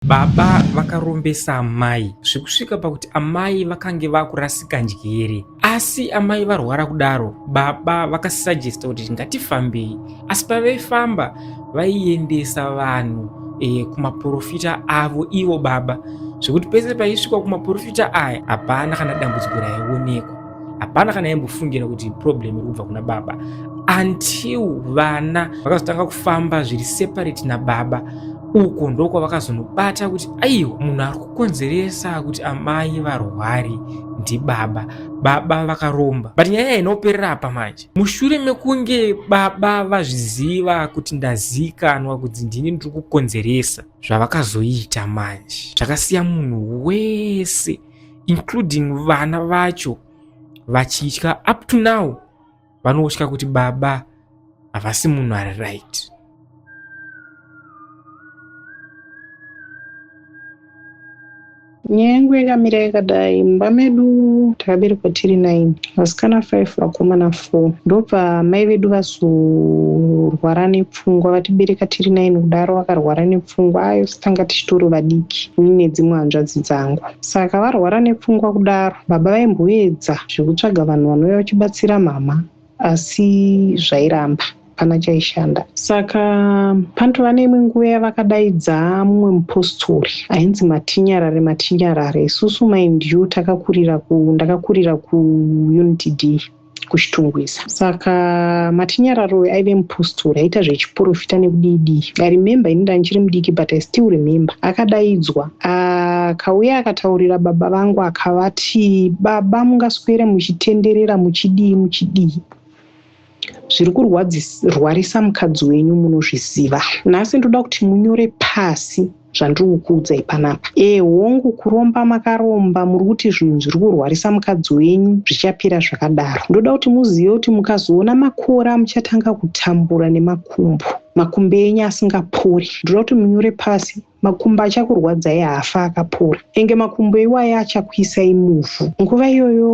Baba vakarombesa amai zvekusvika pakuti amai vakange vakurasika njere. Asi amai varwara kudaro, baba vakasuggesta kuti ngatifambei. Asi pavaifamba vaiendesa vanhu e, kumaporofita avo ivo baba zvekuti pese paisvikwa kumaporofita aya hapana kana dambudziko raionekwa. hapana kana yambofungira kuti problem iri kubva kuna baba until vana vakazotanga kufamba zviri separate nababa uko ndokwa vakazonobata kuti aiwa munhu ari kukonzeresa kuti amai varwari ndibaba baba vakaromba but nyaya inoperera apa manje mushure mekunge baba vazviziva kuti ndazikanwa kuti ndini ndiri kukonzeresa zvavakazoita manje zvakasiya munhu wese including vana vacho vachitya up to now vanotya kuti baba havasi munhu ari right nyengo yakamira yakadai mumba medu takaberekwa tiri 9 vasikana 5 vakomana 4 ndobva mai vedu vazorwara nepfu pfungwa vatibereka tiri nine kudaro vakarwara nepfungwa ayos tanga tichitori vadiki ini nedzimwe hanzvadzi dzangu saka varwara nepfungwa kudaro baba vaimboedza zvekutsvaga vanhu vanouya vachibatsira mhamha asi zvairamba hapana chaishanda saka panotova neimwe nguva yavakadaidza mumwe mupostori ainzi matinyarare matinyarare isusu maindiu takakurira ku ndakakurira kuunit d kuchitungwiza saka matinyararo uyu aive mupostori aita zvechiporofita nekudidi i remember ini ndandichiri mudiki but i still remember akadaidzwa akauya akataurira baba vangu akavati baba mungaswere muchitenderera muchidii muchidii zviri kurwarisa mukadzi wenyu munozviziva nhasi ndoda kuti munyore pasi zvandiri kukuudzai panapa ee hongu kuromba makaromba muri kuti zvinhu zviri kurwarisa mukadzi wenyu zvichapera zvakadaro ndoda kuti muzive kuti mukazoona makora muchatanga kutambura nemakumbo makumbo enyu asingapori ndoda kuti munyore pasi makumbo achakurwadzai haafa akapora enge makumbo iwayo achakuisai muvhu nguva iyoyo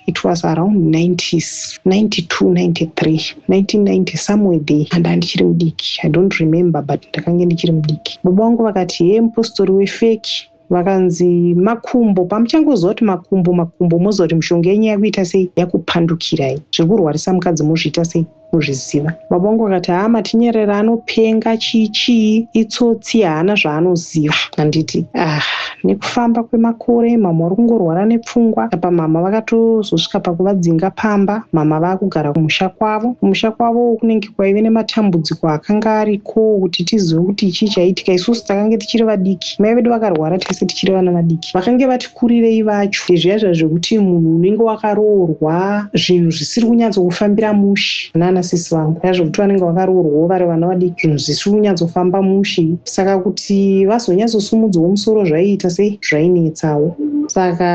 it was around 90s 92 93 1990 somewhere there and andichiri mudiki i don't remember but ndakange ndichiri mudiki baba vangu vakati hee mupostori wefeki vakanzi makumbo pamuchangoziva kuti makumbo makumbo moziva kuti mushonga yenyu yakuita sei yakupandukirai zvekurwarisa mukadzi mozviita sei muzviziva mabongo akati haa matinyerera anopenga chii chii itsotsi haana zvaanoziva handiti ah nekufamba kwemakore mama uri kungorwara nepfungwa apa mama vakatozosvika pakuvadzinga pamba mama vakugara kumusha kwavo kumusha kwavo kunenge kwaive nematambudziko akanga ariko kuti tizive kuti chii chaitika isusu takange tichiri vadiki mai vedu vakarwara tese tichiri vana vadiki vakange vati kurirei vacho zviya zviya zvekuti munhu unenge wakaroorwa zvinhu zvisiri kunyatsokufambira mushi nana sisi vangu ya zvekuti vanenge vakaroorwawo vari vana vadiki zvinhu zvisiri kunyatsofamba mushi saka kuti vazonyatsosumudzwawo musoro zvaiita sei zvainetsawo saka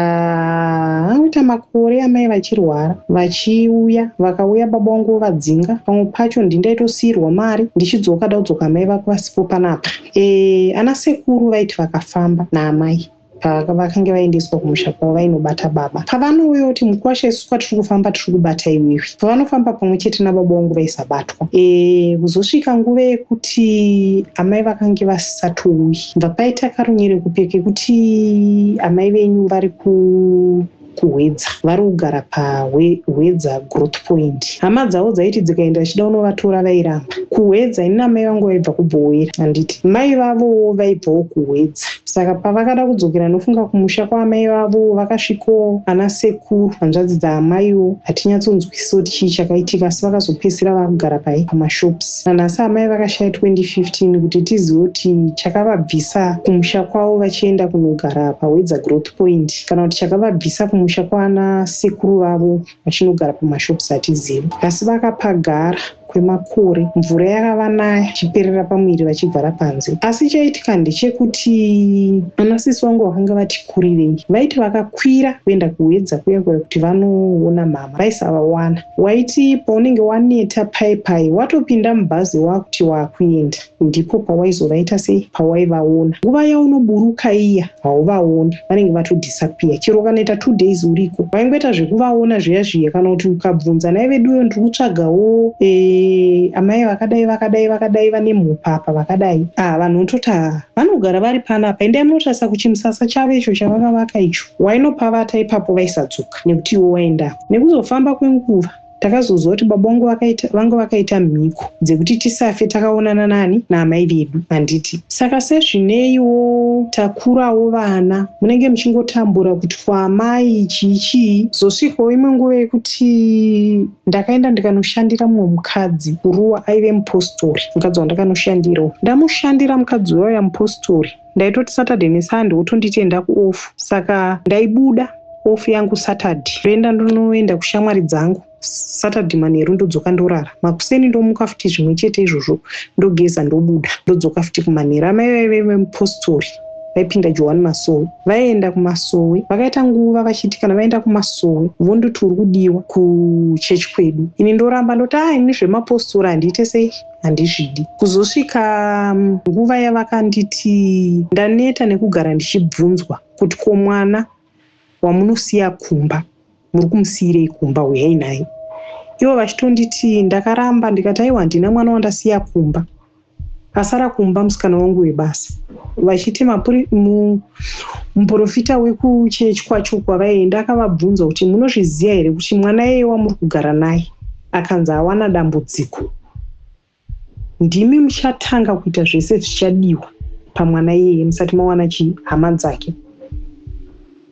anoita makore amai vachirwara vachiuya vakauya baba wangu vovadzinga pamwe pacho ndi ndaitosiirwa mari ndichidzoka da kudzoka amai vako vasipo panapa e, ana sekuru vaiti vakafamba naamai pavakange vaendeswa kumusha kwavo vainobata baba pavanouya kuti mukwasha isu kwatiri kufamba tiri kubata iwewe pavanofamba pamwe chete nababa wangu vaisabatwa e, kuzosvika nguva yekuti amai vakange vasisatouyi bva paita karunyere kupe kekuti amai venyu vari ku kuHwedza vari kugara paHwedza Growth Point. Hama dzavo dzaiti dzikaenda dzichida kunovatora vairamba. KuHwedza ini namai vangu vaibva kuBhowera handiti. Mai vavowo vaibvawo kuHwedza. Saka pavakada kudzokera ndofunga kumusha kwaamai vavo vakasvikawo ana sekuru hanzvadzi dzaamaiwo hatinyatsonzwisisa kuti chii chakaitika asi vakazopedzisira vakugara pai pamashops. Nanhasi amai vakashaya 2015 kuti tizive kuti chakavabvisa kumusha kwavo vachienda kunogara paHwedza Growth Point. kana kuti chakavabvisa kumusha kwana sekuru vavo vachinogara pamashops hatizivi asi vakapagara kwemakore mvura yakavanaya chiperera pamuviri vachibvara panze asi chaitika ndechekuti ana sisi vangu vakanga vati kurirei vaiti vakakwira kuenda kuhwedza kuya kuya kuti vanoona mhama vaisavawana waiti paunenge waneta pai pai watopinda mubhazi wakuti wakuenda Ndipo pawaizovaita sei pawaivaona. Nguva yaunoburuka iya hauvaoni vanenge vato disappear chero ukanoita two days uriko waingoita zvekuvaona zviya zviya kana kuti ukabvunza nhai veduwe ndiri kutsvagawo eh, amai vakadai vakadai vakadai vane mhupa apa vakadai ah vanhu unototi ah vanogara vari panapa endai munotarisa kuchimusasa chavo icho chavakavaka icho wainopavata ipapo vaisadzoka nekuti iwo waendako nekuzofamba kwenguva Takazoziva kuti baba vangu vakaita, vanga vakaita mhiko dzekuti tisafe takaonana nani naamai vedu handiti. Saka sezvineiwo takurawo vana munenge muchingotambura kuti kwaamai chii chii. Zvosvikawo imwe nguva yekuti ndakaenda ndikanoshandira mumwe mukadzi kuruwa aive mupostori mukadzi wandakanoshandirawo. Ndamushandira mukadzi uya uya mupostori. ndaitoti saturday nesunday wotonditi enda kuoff saka ndaibuda off yangu saturday ndoenda ndonoenda kushamwari dzangu saturday manheru ndodzoka ndorara makuseni ndomuka futi zvimwe chete izvozvo ndogeza ndobuda ndodzoka futi kumanheru amai vaive vemupostori vaipinda johani masowe vaienda kumasowe vakaita nguva vachiti kana vaenda kumasowe vondoti uri kudiwa kuchechi kwedu ini ndoramba ndoti a ah, ini zvemapostori handiite sei handizvidi. Kuzosvika nguva yavakanditi ndaneta nekugara ndichibvunzwa kuti ko mwana wamunosiya kumba muri kumusiirei kumba huyai naye ivo vachitonditi ndakaramba ndikati aiwa handina mwana wandasiya kumba asara kumba musikana wangu webasa vachiti muprofita wekuchechi kwacho kwavaienda akavabvunza kuti munozviziva here kuti mwana yeye wamuri kugara naye akanzi awana dambudziko ndimi muchatanga kuita zvese zvichadiwa pamwana iyeye musati mawana chii hama dzake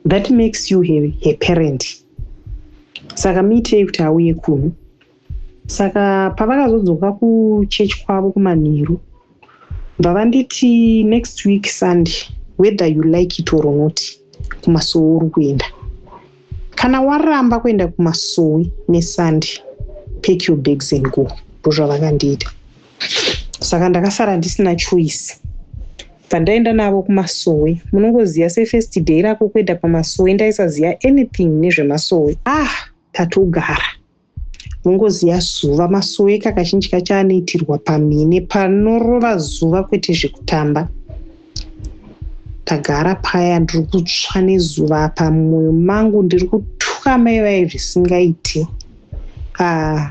that makes you her, her parent saka muitei kuti auye kuno saka pavakazodzoka kuchechi kwavo kumanheru bva vanditi next week sunday whether you like it or not kumasowe uri kuenda kana waramba kuenda kumasowe nesunday pack your bags and go ndozvavakandiita saka ndakasara ndisina choice pandaenda navo kumasowe munongoziva sefirst day rako kuenda pamasowe ndaisaziva anything nezvemasowe ah tatogara mungoziva zuva masoeka kazhinji kacho anoitirwa pamhine panorova zuva kwete zvekutamba ndagara paya ndiri kutsva nezuva apa mumwoyo mangu ndiri kutuka mai vaye zvisingaiti ah,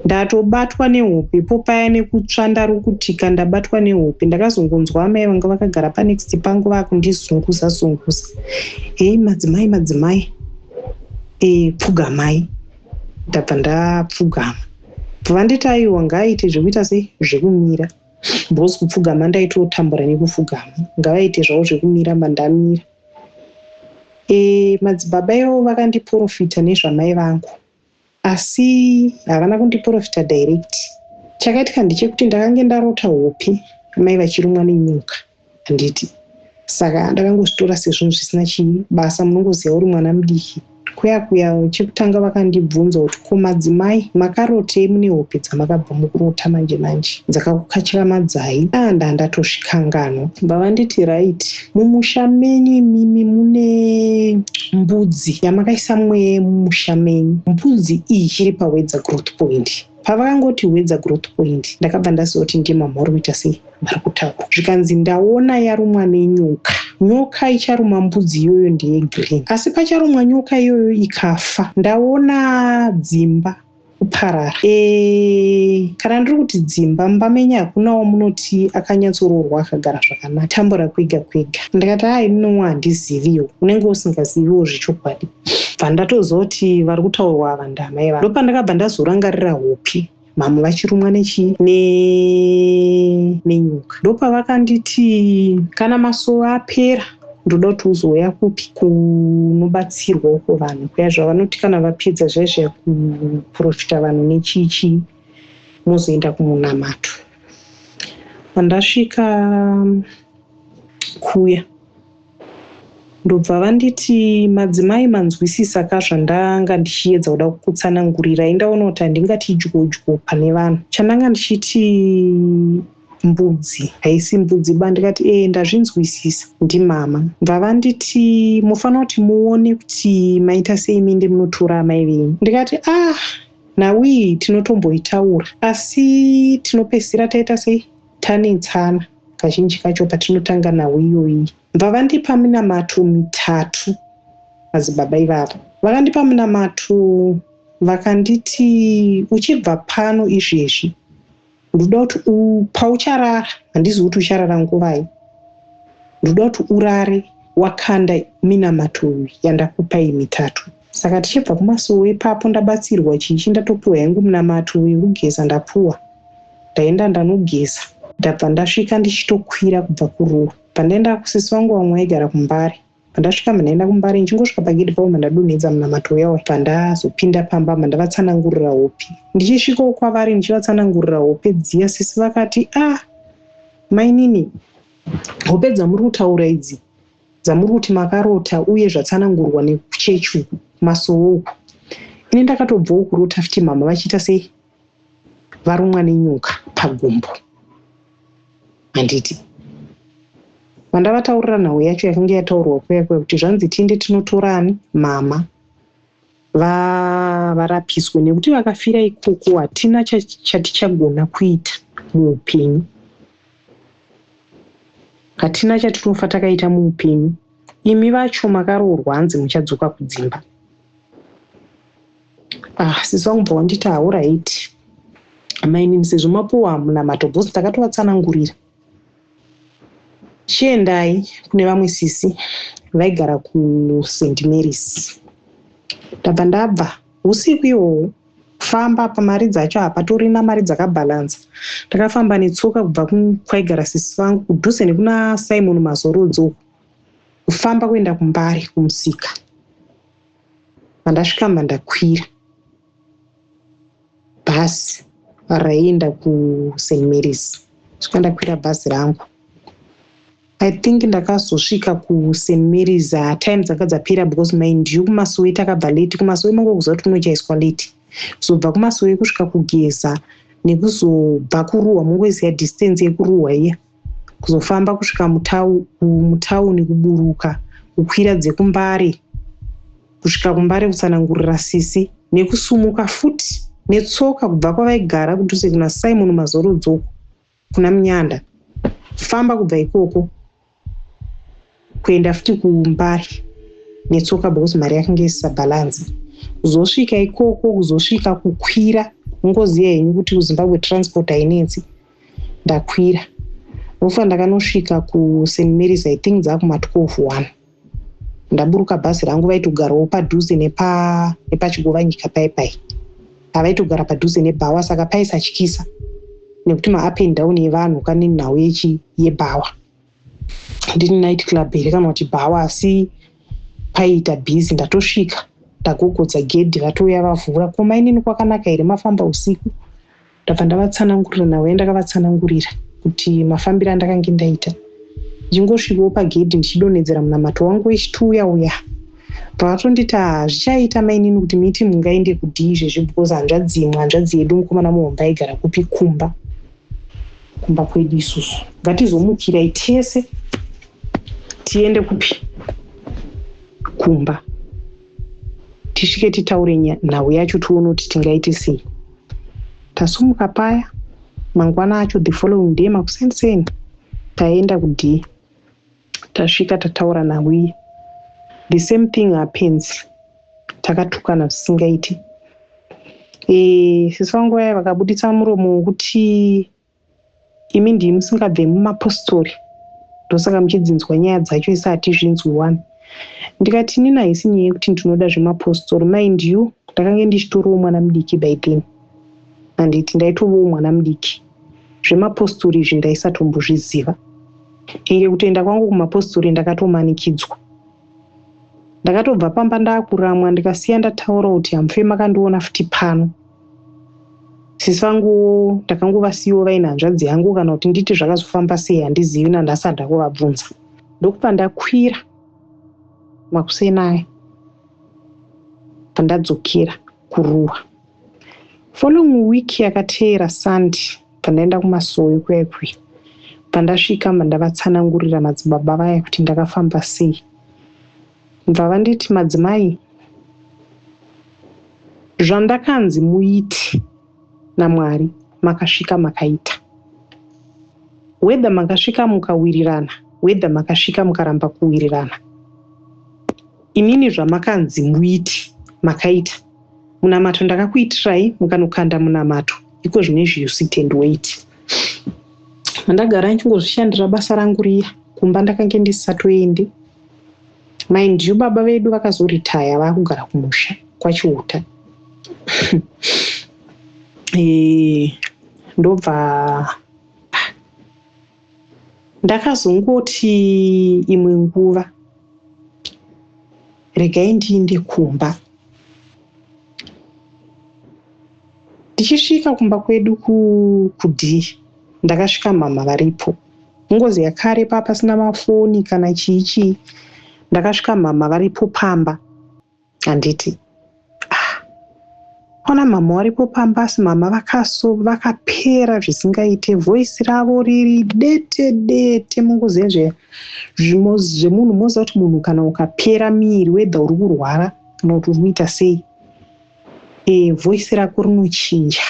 ndatobatwa nehope po paya nekutsva ndari kutika ndabatwa nehope ndakazongonzwa amai vanga vakagara panext pangu vakundizunguza zunguza heyi madzimai madzimai e, pfugamai ndabva ndapfugama vanditi aiwa ngaaite zvekuita sei zvekumira because kupfugama ndaitotambura nekupfugama ngavaite zvavo zvekumira mandamira e, madzibaba ivo vakandiprofita nezvamai vangu asi havana kundiporofita direct. Chakaitika ndechekuti ndakange ndarota hope amai vachirumwa nenyoka handiti saka ndakangozvitora sezvinhu zvisina chibasa munongoziva uri mwana mudiki kuya kuya chekutanga vakandibvunza kuti ko madzimai makarotei mune hope dzamakabva mukurota manje manje dzakakukatyamadzai a ndandatozvikanganwa bva vanditi right mumusha menyu imimi mune mbudzi yamakaisa mwe mumusha menyu mbudzi iyi chiri pawedza growth point pavakangoti wedza growth point ndakabva ndazoti ndiye mamha uri kuita sei vari kutaura zvikanzi ndaona yarumwa nenyoka nyoka icharuma mbudzi iyoyo ndeye green asi pacharumwa nyoka iyoyo ikafa ndaona dzimba kuparara e, kana ndiri kuti dzimba mumba menyu hakunawo munoti akanyatsoroorwa akagara zvakanaka tambura kwega kwega ndikati a inowo handiziviwo unenge usingaziviwo zvechokwadi bva ndatozoti vari kutaurwa ava ndamai va ndopandakabva ndazorangarira hope mamwe vachirumwa nechii nenyuka ndopavakanditi kana masowe apera ndoda kuti uzouya kupi kunobatsirwa uko vanhu kuya zvavanoti kana vapedza zviya zviya kuprofita vanhu nechichi mozoenda kumunamato pandasvika kuya ndobva vanditi madzimai manzwisisa ka zvandanga ndichiedza kuda kukutsanangurira indaona kuti handingati idyodyo pane vanhu chandanga ndichiti mbudzi haisi mbudzi ba ndikati ee ndazvinzwisisa ndimama bvavanditi mofana kuti muone kuti maita sei minde munotora amai venyu ndikati ah nawii tinotomboitaura asi tinopedzisira taita sei tanetsana kazhinji kacho patinotanga nhau iyoyi bvavandipa minamato mitatu madzibaba ivavo vakandipa minamato vakanditi uchibva pano izvezvi ndoda kuti paucharara handizivi kuti ucharara nguvai ndoda kuti urare wakanda minamato yandakupai mitatu saka tichibva kumasowe ipapo ndabatsirwa chichi ndatopiwa yangu minamato yekugeza ndapuwa ndaenda ndanogeza ndabva ndasvika ndichitokwira kubva kuruwa pandaenda kusisi vangu vamwe vaigara kumbare Pandasvika mandaenda kumbare ndichingosvika pagedhi pavo mandadonhedza munamato uya uya pandazopinda pamba mandavatsanangurira hope ndichisvikawo kwavari ndichivatsanangurira hope dziya sisi vakati a ah, mainini hope dzamuri kutaura idzi dzamuri kuti makarota uye zvatsanangurwa nekuchechi uku masowo uku ini ndakatobvawo kurota futi mama vachiita sei varumwa nenyoka pagumbo handiti vandavataurira nhau yacho yakange yataurwa kuya kuya kuti zvanzi tiende tinotorani mama va varapiswe nekuti vakafira ikoko hatina chatichagona kuita muupenyu hatina chatinofa takaita muupenyu imi vacho makaroorwa hanzi muchadzoka kudzimba ah sisi vangu bva wanditi hauraiti amainini sezvo mapuwa munamato bhosi takatovatsanangurira chiendai kune vamwe sisi vaigara kusaint marys ndabva ndabva usiku ihwohwo kufamba pamari dzacho hapatorina mari dzakabhalansa ndakafamba netsoka kubva kwaigara sisi vangu kudhuze nekuna simon mazorodzo kufamba kuenda kumbare kumusika Pandasvika mba ndakwira bhazi raienda kuSt Mary's. Svika ndakwira bhazi rangu. I think ndakazosvika kuSt Mary's uh, time dzanga dzapera because mind you kumasowe takabva late. Kumasowe mango kuziva kuti kunochaiswa late. Kuzobva kumasowe kusvika kugeza nekuzobva kuruwa mongoziva distance yekuruwa iya. Yeah. kuzofamba kusvika mutauni kuburuka kukwira dzekumbare kusvika kumbare kutsanangurira sisi nekusumuka futi netsoka kubva kwavaigara kudhuze kuna simon mazorodzoko kuna munyanda famba kubva ikoko kuenda futi kumbare netsoka because mari yakange isisabhalanza kuzosvika ikoko kuzosvika kukwira ungoziva henyu kuti kuzimbabwe transport hainetsi ndakwira ndofa ndakanosvika kust marys i think dzakuma 12 one ndaburuka bhazi rangu vaitogarawo padhuze nepachigova nyika pai pai avaitogara padhuze nebhawa saka paisatyisa nekuti maapend down evanhu kane nhau yebhawa handiti night club here kana kuti bhawa asi paiita busy ndatosvika ndagogodza gedhi vatouya vavhura ko mainini kwakanaka here mafamba usiku ndabva ndavatsanangurira navo yandakavatsanangurira kuti mafambiro andakange ndaita ndichingosvikawo pagedhi ndichidonhedzera munamato wangu wechituya uya pavatonditi ah, zvichaita mainini kuti miti mungaende kudii zvezvi because hanzvadzimwe hanzvadzi yedu mukomana muhomba aigara kupi kumba kumba kwedu isusu ngatizomukirai tese tiende kupi kumba tisvike titaure nhau yacho tione kuti tingaite sei tasumuka paya mangwana acho the following day makuseni seni taenda kudii Tasvika tataura naWiya the same thing happens takatukana zvisingaiti e, sisi vangu vaya vakabuditsa muromo wokuti imi ndii musingabve mumapostori ndosaka muchidzinzwa nyaya dzacho isi hatizvinzwi one ndikati inini haisi nyaya yekuti ndinoda zvemapostori mind you ndakange ndichitoriwo mwana mudiki by then handiti ndaitovawo mwana mudiki zvemapostori izvi ndaisatombozviziva enge kutoenda kwangu kumapostori ndakatomanikidzwa ndakatobva pamba ndakuramwa ndikasiya ndataura kuti hamufe makandiona futi pano sisi vangu ndakangovasiyiwo vaine hanzvadzi yangu kana kuti nditi zvakazofamba sei handizivi nandasada kuvabvunza ndokupa ndakwira makuseni aya pandadzokera kuruwa Following week yakateera Sunday pandaenda kumasowe kuya ikuya. Pandasvika mba ndavatsanangurira madzibaba vaya kuti ndakafamba sei. Mva vanditi madzimai zvandakanzi muiti naMwari makasvika makaita. Whether makasvika mukawirirana, whether makasvika mukaramba kuwirirana. Imimi zvamakanzi muiti makaita. munamato ndakakuitirai mukanokanda munamato iko zvino izvi you sit and wait mandagara ndichingozvishandira basa rangu riya kumba ndakange ndisisatoendi mind you baba vedu vakazoritaya vakugara kumusha kwachiuta eh, ndobva Ndakazongoti imwe nguva regai ndiinde kumba. Ndichisvika kumba kwedu kudii ndakasvika mhamha varipo. Ngozi yakare paa pasina mafoni kana chii chii ndakasvika mhamha varipo pamba. handiti ah. ona mama waripo pamba asi mama vakaso vakapera zvisingaite voisi ravo riri dete dete mungoziva nje zvemunhu moziva kuti munhu kana ukapera miiri wedha uri kurwara kana kuti uri kuita sei e eh, voisi rako rinochinja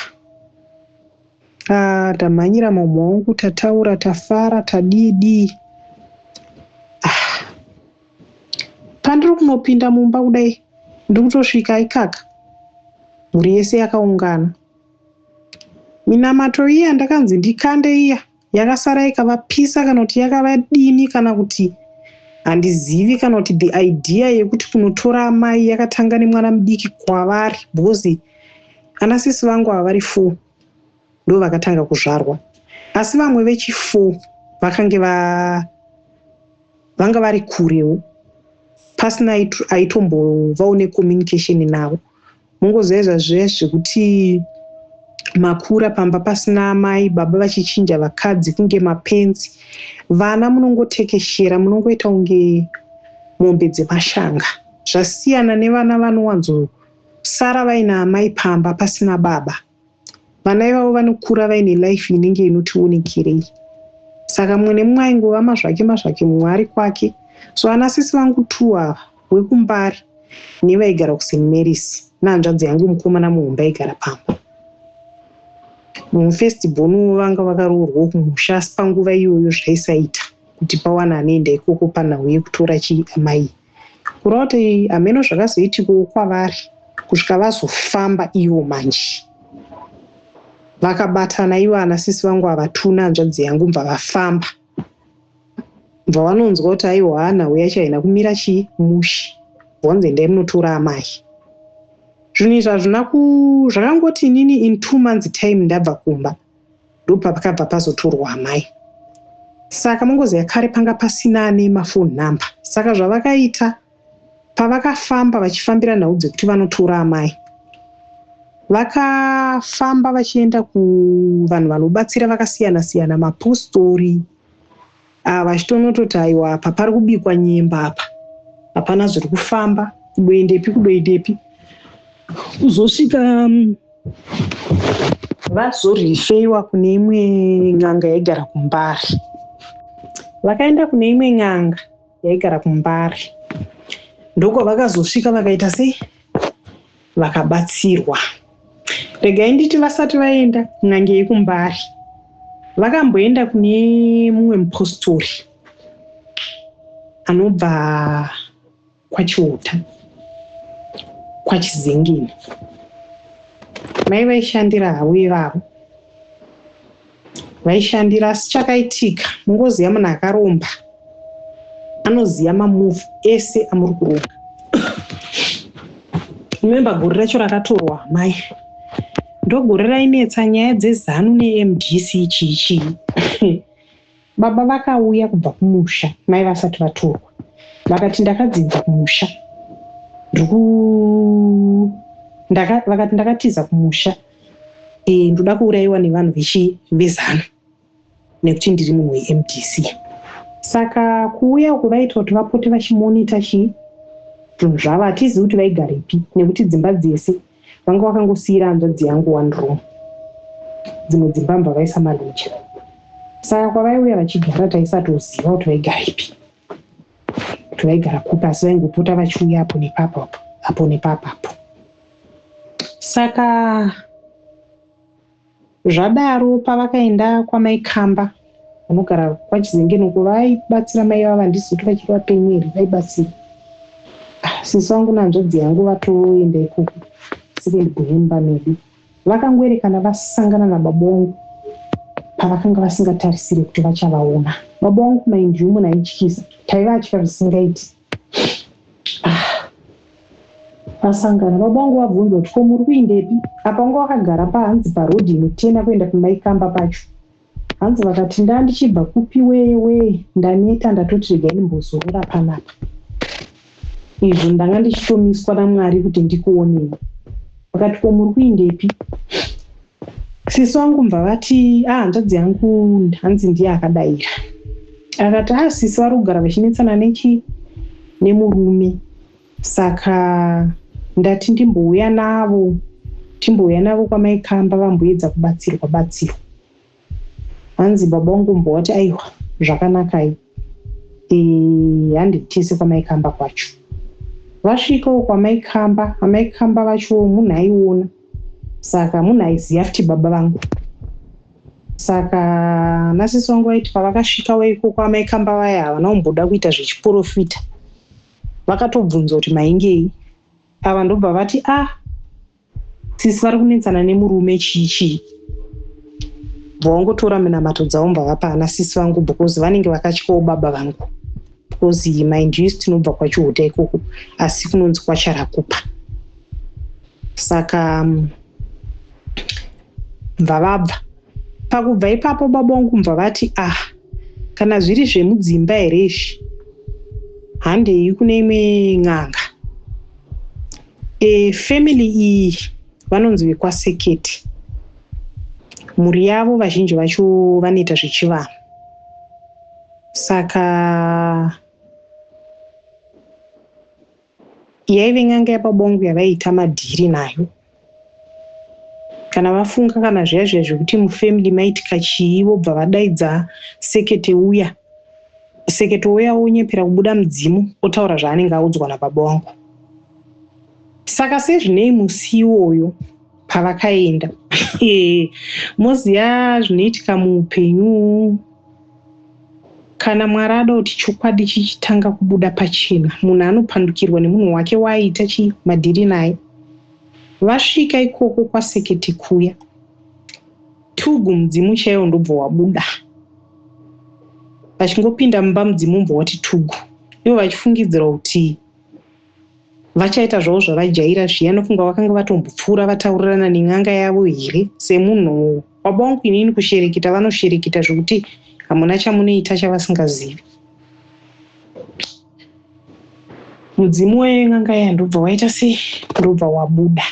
ah, tamhanyira mamwe wangu tataura tafara tadii dii Pandiri kunopinda mumba kudai ndiri kutosvika ikaka mhuri yese yakaungana. Minamato iya ndakanzi ndikande iya yakasara ikavapisa kana kuti yakavadini kana kuti handizivi kana kuti the idea yekuti kunotora amai yakatanga nemwana mudiki kwavari because ana sisi vangu havari four ndovakatanga kuzvarwa asi vamwe vechifour vakange va vanga vari kurewo pasina aitombovawo necommunication navo mongoziva izvazve zvekuti makura pamba pasina amai baba vachichinja vakadzi kunge mapenzi vana munongotekeshera munongoita kunge mombe dzemashanga zvasiyana nevana vanowanzosara vaina amai pamba pasina baba vana ivavo vanokura vaine life inenge inotionekerei saka mumwe nemumwe aingova mazvake mazvake mumwe ari kwake so ana sisi vangu two ava wekumbari nevaigara kusen marys nehanzvadzi yangu mukomana muhombe aigara pamba mufirst bonu vanga vakaroorwa kumusha asi panguva iyoyo zvaisaita kuti pawana anoenda ikoko panhau yekutora chii amai Kureva kuti hameno zvakazoitikawo kwavari kusvika vazofamba ivo manje vakabatana ivo ana sisi vangu ava two nehanzvadzi yangu bva vafamba bva vanonzwa kuti aiwa hana uya chaina kumira chii mushe vonzi endai munotora amai zvinhu izvi hazvina ku zvakangoti inini in two months time ndabva kumba ndopakabva pazotorwa amai saka mongozi yakare panga pasina ane mafoni number saka zvavakaita pavakafamba vachifambira nhau dzekuti vanotora amai vakafamba vachienda kuvanhu vanobatsira vakasiyana siyana mapostori Ah, vachitonototi aiwa apa pari kubikwa nyemba apa hapana zviri kufamba kudoendepi kudoendepi kuzosvika mm, vazorifeiwa kune imwe n'anga yaigara kumbari vakaenda kune imwe n'anga yaigara kumbari ndokwavakazosvika vakaita sei vakabatsirwa regai nditi vasati vaenda kun'anga yekumbari vakamboenda kune mumwe mupostori anobva kwachiuta kwachizengeni mai vaishandira havo ivavo vaishandira asi chakaitika mungoziva munhu akaromba anoziva mamove ese amuri kuromba remembe gore racho rakatorwa amai ndogore rainetsa nyaya dzezanu nemdc chii chii Baba vakauya kubva kumusha mai vasati vatorwa vakati ndakadzidza kumusha ndiku ndaka, vakati ndakatiza kumusha e, eh, ndoda kuurayiwa nevanhu vechivezano nekuti ndiri munhu wemdc saka kuuya uko vaita kuti vapote vachimonita chii zvinhu zvavo hatizivi kuti vaigarepi nekuti dzimba dzese vanga vakangosiira hanzvadzi yangu one room dzimwe dzimba mva vaisa maloja saka kwavaiuya vachigara taisatoziva kuti vaigara ipi kuti vaigara kupi asi vaingopota vachiuya apo nepapo apo nepapapo saka Zvadaro pavakaenda kwamai Kamba vanogara kwaChizengeni uko vaibatsira mai ivava handisi kuti vachiri vapenyu here vaibatsira ah, sisi vangu nanzvadzi yangu vatoenda ikoko second kuhemba medu vakangoerekana vasangana nababa wangu pavakanga vasingatarisire kuti vachavaona baba wangu kumaindyumu naityisa taiva atya zvisingaiti vasangana baba vangu vabvunza kuti ko muri kuindepi apa vanga vakagara pahanzi parodhi inotena kuenda kumaikamba pacho hanzi vakati ndaa ndichibva kupi wewe ndaneta ndatoti rega ndimbozorora panapa izvo ndanga ndichitomiswa namwari kuti ndikuonei vakati ko muri kuindepi Sisi wangu mva vati ah, hanzvadzi yangu hanzi ndiye akadaira akati ah, sisi vari kugara vachinetsana nechi nemurume saka ndati ndimbouya navo timbouya navo kwamaikamba vamboedza kubatsirwa batsirwa hanzi baba wangu mbowati aiwa zvakanakai handitese kwamaikamba kwacho vasvikawo kwamaikamba amaikamba vachowo munhu aiona saka munhu aiziva futi baba vangu saka nasisi wangu vaiti pavakasvika waiko kwamaikamba vaya havana kumboda kuita zvechiporofita vakatobvunza kuti maingei ava ndobva vati a ah, sisi vari kunetsana nemurume chii chii bvawangotora minamato dzavo mbavapa ana sisi vangu because vanenge vakatyawo baba vangu because mind us tinobva kwachihuta ikoko asi kunonzi kwacharakupa saka mm, mbvavabva pakubva ipapo baba wangu mbva vati ah kana zviri zvemudzimba here izvi handei kune imwe n'anga E, family iyi vanonzi vekwaseketi mhuri yavo vazhinji vacho vanoita zvechivanhu saka yaive n'anga yapabongo yavaiita madhiri nayo kana vafunga kana zviya zviya zvekuti mufamily maitika chii vobva vadaidza sekete uya sekete uya onyepera kubuda mudzimu otaura zvaanenge audzwa napabongo saka sezvinei musi iwoyo pavakaenda moziva zvinoitika muupenyu kana mwari ada kuti chokwadi chichitanga kubuda pachena munhu anopandukirwa nemunhu wake waaita chii madhiri naye vasvika ikoko kwasekete kuya tugu mudzimu chaiwo ndobva wabuda vachingopinda mumba mudzimu mbwa wati tugu ivo vachifungidzira kuti vachaita zvavo zvavajaira zviya anofunga vakanga vatombopfuura vataurirana nen'anga yavo here semunhu baba wangu inini kushereketa vanoshereketa zvekuti hamuna chamunoita chavasingazivi mudzimu wen'anga iya ndobva waita sei ndobva wabuda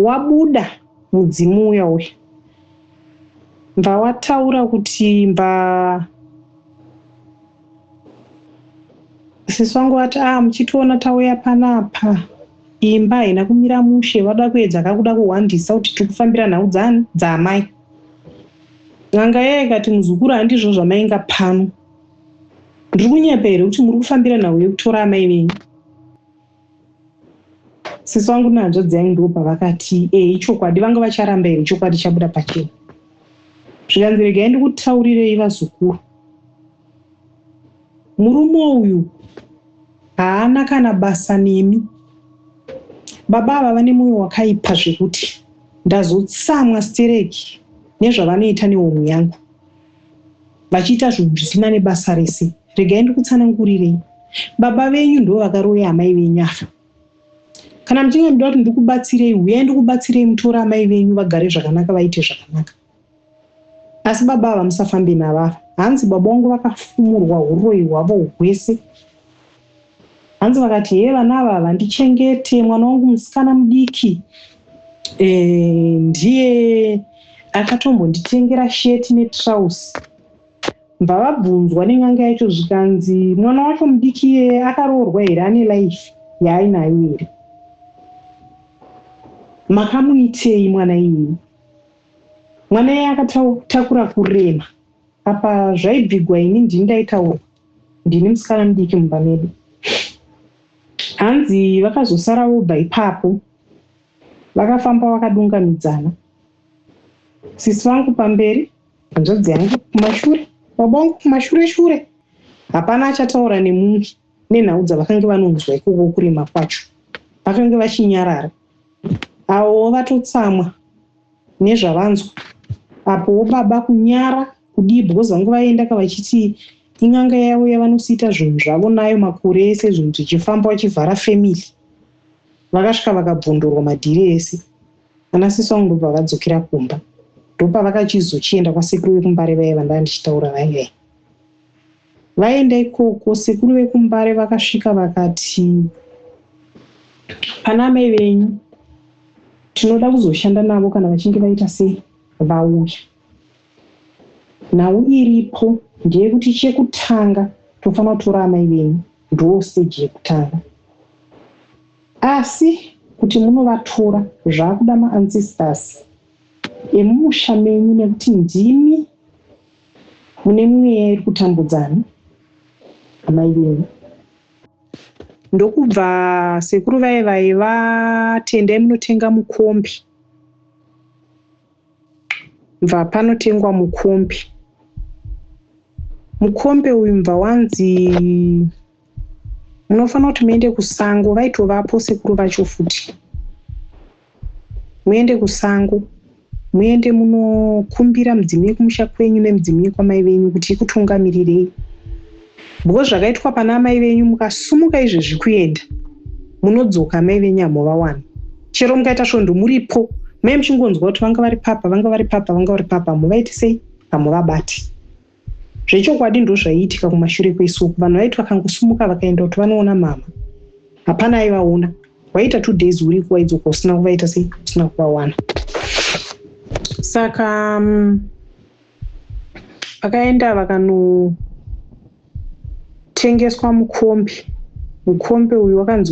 wabuda mudzimu uya uya mbva wataura kuti mbva sisi vangu vati a ah, muchitiona tauya panapa imba haina kumira mushe vada kuedza kakuda kuhwandisa kuti tiri kufambira nhau dzaamai n'anga yeye kati muzukuru handizvo zvamainga pano ndiri kunyepa here kuti muri kufambira nhau yekutora amai venyu sisi vangu nehanzvadzi yangu ndivo pavakati e ichokwadi vanga vacharamba here chokwadi chabuda pachena zvikanzi regai ndikutaurirei vazukuru murume uyu haana kana basa nemi baba ava vane mwoyo wakaipa zvekuti ndazotsamwa stereki nezvavanoita nehomwe yangu vachiita zvinhu zvisina nebasa rese regai ndikutsanangurirei baba venyu ndo vakaroya amai venyu afa kana muchinge muda kuti ndikubatsirei huyai ndikubatsirei mutora amai venyu vagare zvakanaka vaite zvakanaka asi baba ava musafambe navava hanzi baba wangu vakafumurwa uroyi hwavo hwese Hanzi vakati hee vana ava havandichengete mwana wangu musikana mudiki eh, ndiye akatombonditengera sheti netrausi bva vabvunzwa nen'anga yacho zvikanzi mwana wacho mudiki iye akaroorwa here ane life yaainayo here makamuitei mwana iyeye mwana iye akatakura kurema apa zvaibvigwa ini ndini ndaitaurwa ndini musikana mudiki mumba medu hanzi vakazosara vobva ipapo vakafamba vakadungamidzana sisi vangu pamberi hanzvadzi yangu kumashure baba vangu kumashure shure hapana achataura nemumwe nenhau dzavakange vanonzwa ikoko kurima kwacho vakange vachinyarara avowo vatotsamwa nezvavanzwa apowo baba kunyara Kudii because vangu vaendaka vachiti in'anga yavo yavanosiita zvinhu zvavo nayo makore ese zvinhu zvichifamba vachivhara family vakasvika vakabvondorwa madhiri ese ana sisi vangu ndobva vadzokera kumba ndopavakachizochienda kwasekuru vekumbare vaiva ndava ndichitaura vaive vaenda ikoko sekuru vekumbare vakasvika vakati pana amai venyu tinoda kuzoshanda navo kana vachinge vaita sei vauya Nhau iripo ndeyekuti chekutanga tofanira kutora amai venyu ndoo stage yekutanga asi kuti munovatora zvakuda ma ancestors emumusha menyu nekuti ndimi mune mweya iri kutambudzana amai venyu ndokubva sekuru vaye vaye vatendai munotenga mukombi Mva panotengwa mukombe. Mukombe uyu mva wanzi munofanira kuti muende kusango vaitovapo sekuru vacho futi muende kusango muende munokumbira mudzimu yekumusha kwenyu nemudzimu yekwamai venyu kuti ikutungamirirei Because zvakaitwa pana amai venyu mukasumuka izvezvi kuenda munodzoka amai venyu hamuvawana chero mukaita svondo muripo mai muchingonzwa kuti vanga vari papa vanga vari papa vanga vari papa hamuvaiti sei hamuvabati zvechokwadi ndo zvaiitika kumashure kweisuku vanhu vaiti vakangosumuka vakaenda kuti vanoona mama hapana aivaona waita two days uri kuwaidzoka usina kuvaita sei usina kuvawana saka um, vakaenda vakanotengeswa mukombi mukombi uyu wakanzi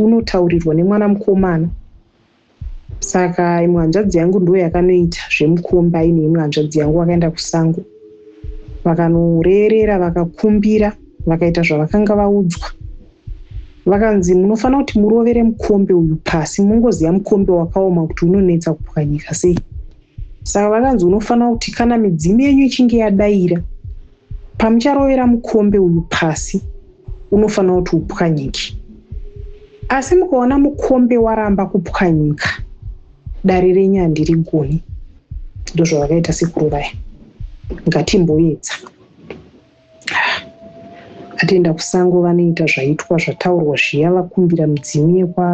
unotaurirwa nemwana mukomana saka imwe hanzvadzi yangu ndo yakanoita zvemukombi aine imwe hanzvadzi yangu vakaenda kusango vakanorerera vakakumbira vakaita zvavakanga vaudzwa vakanzi munofanira kuti murovere mukombe uyu pasi mungoziva mukombe wakaoma kuti unonetsa kupwanyika sei Saka vakanzi unofanira kuti kana midzimu yenyu ichinge yadaira pamucharovera mukombe uyu pasi unofanira kuti upwanyike asi mukaona mukombe waramba kupwanyika dare renyu handiri goni ndozvavakaita sekuru vaya ngatimboedza atienda kusango vanoita zvaitwa zvataurwa zviya vakumbira midzimu yekwa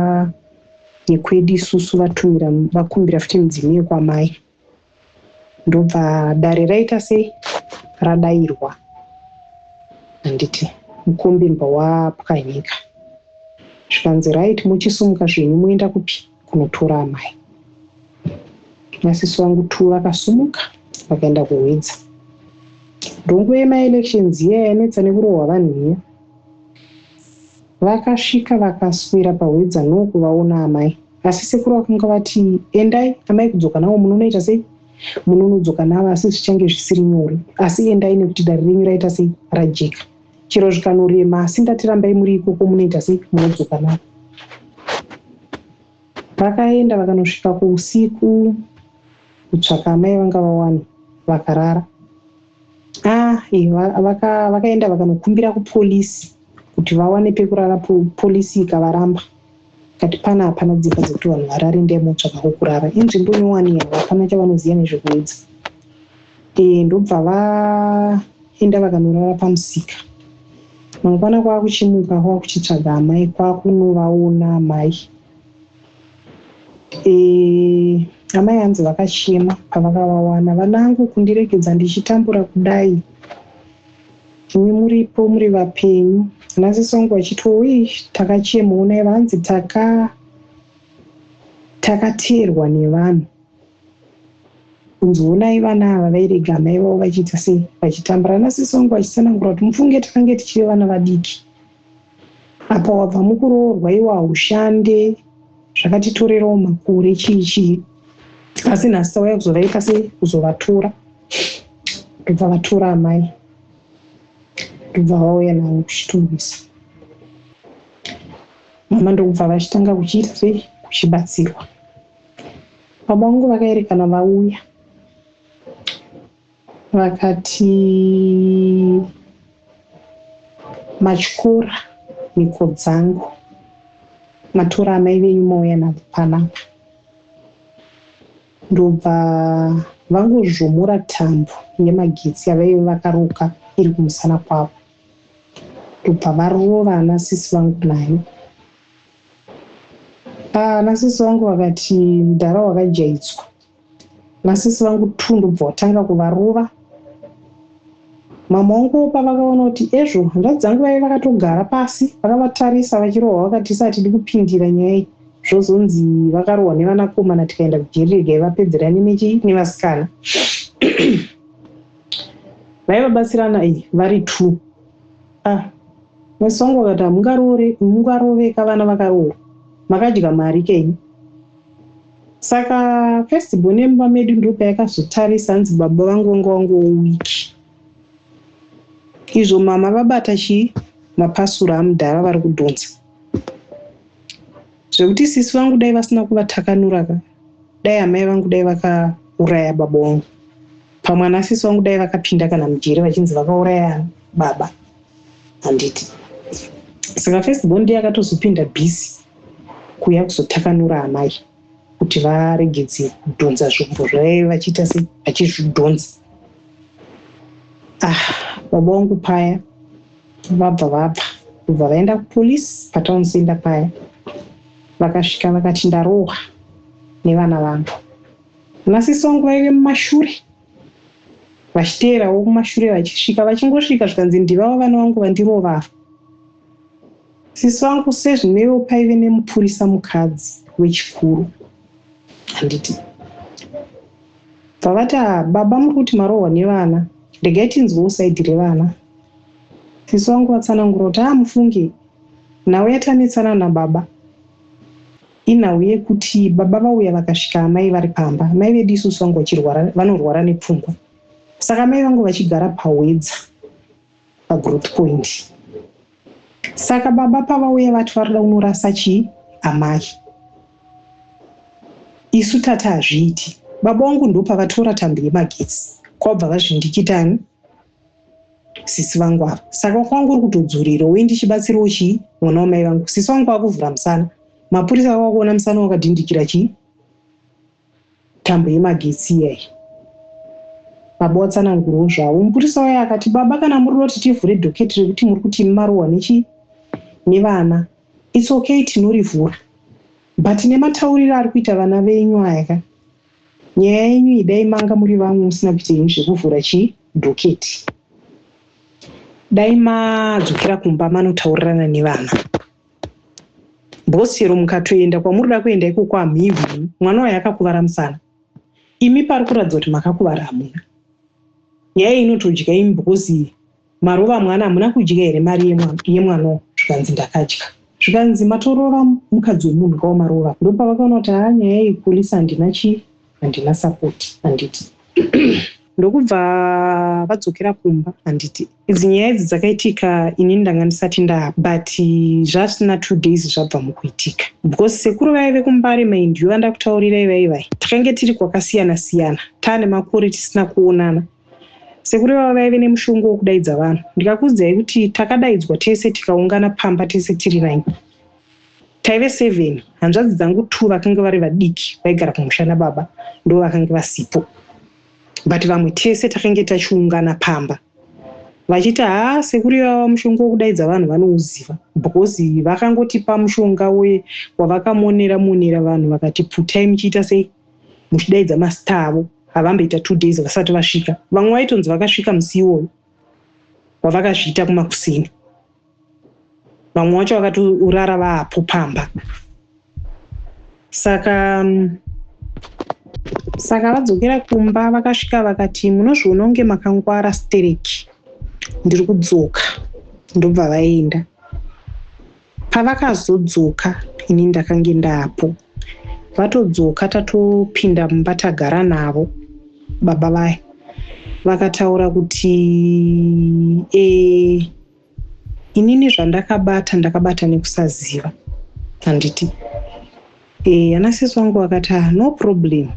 yekwedu isusu vatumira vakumbira futi midzimu yekwamai ndobva dare raita sei radairwa handiti mukombimba wapwanyika zvikanzi right muchisimuka zvenyu moenda kupi kunotora amai masisi wangu two vakasumuka vakaenda kuhwidza ndongoema elections iya yanetsa nekurohwa vanhu iya Vakasvika vakaswera pahwedza no kuvaona amai asi sekuru vakanga vati endai amai kudzoka navo munonoita sei munonodzoka navo asi zvichange zvisiri nyore asi endai nekuti dare renyu raita sei rajeka chero zvikanorema asi ndati rambai muri ikoko munoita sei munodzoka navo vakaenda vakanosvika kuusiku kutsvaka amai vanga vawana vakarara Ah, vakaenda vaka, vaka vakanokumbira kupolisi kuti vawane pekurara, polisi ikavaramba kati pana hapana dzimba dzekuti vanhu varari ndai motsvaka kwokurara inzvimbo nyowani yavo hapana chavanoziva nezvekuedza e, eh, ndobva vaenda vakanorara pamusika mangwana kwava kuchimuka kwava kuchitsvaga amai kwava kunovaona amai e, amai hanzi vakachema pavakavawana vanangu kundiregedza ndichitambura kudai imi muripo muri vapenyu nasisongo vachiti oi takachema unai vanzi taka takateerwa nevanhu kunzi unai vana ava vairega amai vavo vachiita sei vachitambura nasisongo vachisanangura kuti mufunge takange tichive vana vadiki Apa wabva mukuroorwa iwe haushande zvakatitorerawo makore chii chii asi nhasi tauya kuzovaita sei kuzovatora ndobva vatora amai ndobva vauya navo kuchitungisa mama ndokubva vachitanga kuchiita sei kuchibatsirwa baba vangu vakaerekana vauya vakati matyora mhiko dzangu matora amai venyu mauya navo panapa ndobva vangozvomora tambo yemagetsi yavaive vakaruka iri kumusana kwavo ndobva varova ana sisi vangu nayo ah, ana sisi vangu vakati mudhara wakajaitswa Masisi vangu two ndobva watanga kuvarova. Mama wangu opa vakaona kuti ezvo hanzvadzi dzangu vaive vakatogara pasi vakavatarisa vachirohwa vakati tisa hatidi kupindira nyaya iyi zvozonzi vakarohwa nevanakomana tikaenda kujeri regai vapedzerane nechi nevasikana vaivabatsirana iyi vari two ah mwesi wangu vakati hamungaroveka vana vakarohwa makadya mari kenyu Saka first born yemumba medu ndopayakazotarisa hanzi baba vangu vanga wangu wiki izvo mama vabata chii mapasura amudhara vari kudhonza zvekuti sisi vangu dai vasina kuvatakanura ka dai amai vangu dai vakauraya baba wangu pamwana sisi vangu dai vakapinda kana mujeri vachinzi vakauraya baba handiti saka first bond yakatozopinda busy kuya kuzotakanura amai kuti varegedze kudhonza zvombo zvavaive vachiita se vachizvidhonza ah baba wangu paya vabva vabva kubva vaenda kupolice patown center paya vakasvika vakati ndarohwa nevana vangu nasisi wangu vaive mumashure vachiteerawo kumashure vachisvika vachingosvika zvikanzi ndivavo vana vangu vandirovava sisi vangu sezvinevo paive nemupurisa mukadzi wechikuru handiti pavati ah, baba muri kuti marohwa nevana regai tinzwewo saidhi revana sisi vangu vatsanangura kuti aa ah, mufunge nhau yatanetsana nababa Inhau yekuti baba vauya vakasvika amai vari pamba. Mai vedu isusu vangu vachirwara vanorwara nepfungwa. Saka amai vangu vachigara pahwedza pagrowth point. Saka baba pavauya vati vari kuda kunorasa chii amai. Isu tati hazviiti. Baba vangu ndopavatora tambo yemagetsi kwabva vazvindikitani sisi vangu ava saka wakwangu uri kutodzurira wei ndichibatsirawo chii mwana wamai vangu sisi vangu vakuvhura musana mapurisa vava kuona musana wakadhindikira chii tambo yemagetsi iyayi baba watsanangurwo zvavo mupurisa waye akati baba kana muri roti tivhure dhoketi rekuti muri kuti marohwa nechii nevana its okay tinorivhura but nematauriro ari kuita vana venyu aya ka Nyaya yenyu iyi dai manga muri vamwe musina kuita henyu zvekuvhura chi doketi. Dai madzokera kumba manotaurirana nevana. Boss chero mukatoenda kwamuri da kuenda ikoko hamhihwi mwana wayo akakuvara musana. Imi pari kuratidza kuti makakuvara hamuna. Nyaya iyi inotodyai because Maruva mwana hamuna kudya here mari yemwano zvikanzi ndakadya. Zvikanzi matorova mukadzi wemunhu kawo maruva ndopavakaona kuti haa nyaya yepolice handina chii handina support handiti ndokubva vadzokera kumba handiti idzi nyaya idzi dzakaitika ini ndanga ndisati ndaa but zvasina two days zvabva mukuitika because sekuru vaive kumbare maindiyo vandakutaurirai vaivai takange tiri kwakasiyana siyana taane makore tisina kuonana Sekuru ivavo vaive nemushongo wekudaidza vanhu. Ndikakuudzai kuti takadaidzwa tese tikaungana pamba tese tiri nine. Taive seven, hanzvadzi dzangu two vakange vari vadiki vaigara kumusha nababa ndo vakange vasipo. But vamwe tese takange tachiungana pamba. Vachiti haa sekuru ivava mushonga wekudaidza vanhu vanouziva because vakangotipa mushonga we wavakamonera monera vanhu vakati pfutai muchiita sei. muchidaidza mastar avo havamboita two days vasati vasvika vamwe vaitonzi vakasvika musi iwoyo wavakazviita kumakuseni vamwe vacho vakatorara vaapo pamba saka mm, saka vadzokera kumba vakasvika vakati munozviona kunge makangwara stereki ndiri kudzoka ndobva vaenda Pavakazodzoka ini ndakange ndaapo. Vatodzoka tatopinda mumba tagara navo baba vaya vakataura kuti e, inini zvandakabata ndakabata nekusaziva handiti Eh, ana sisi wangu vakati ah, no problem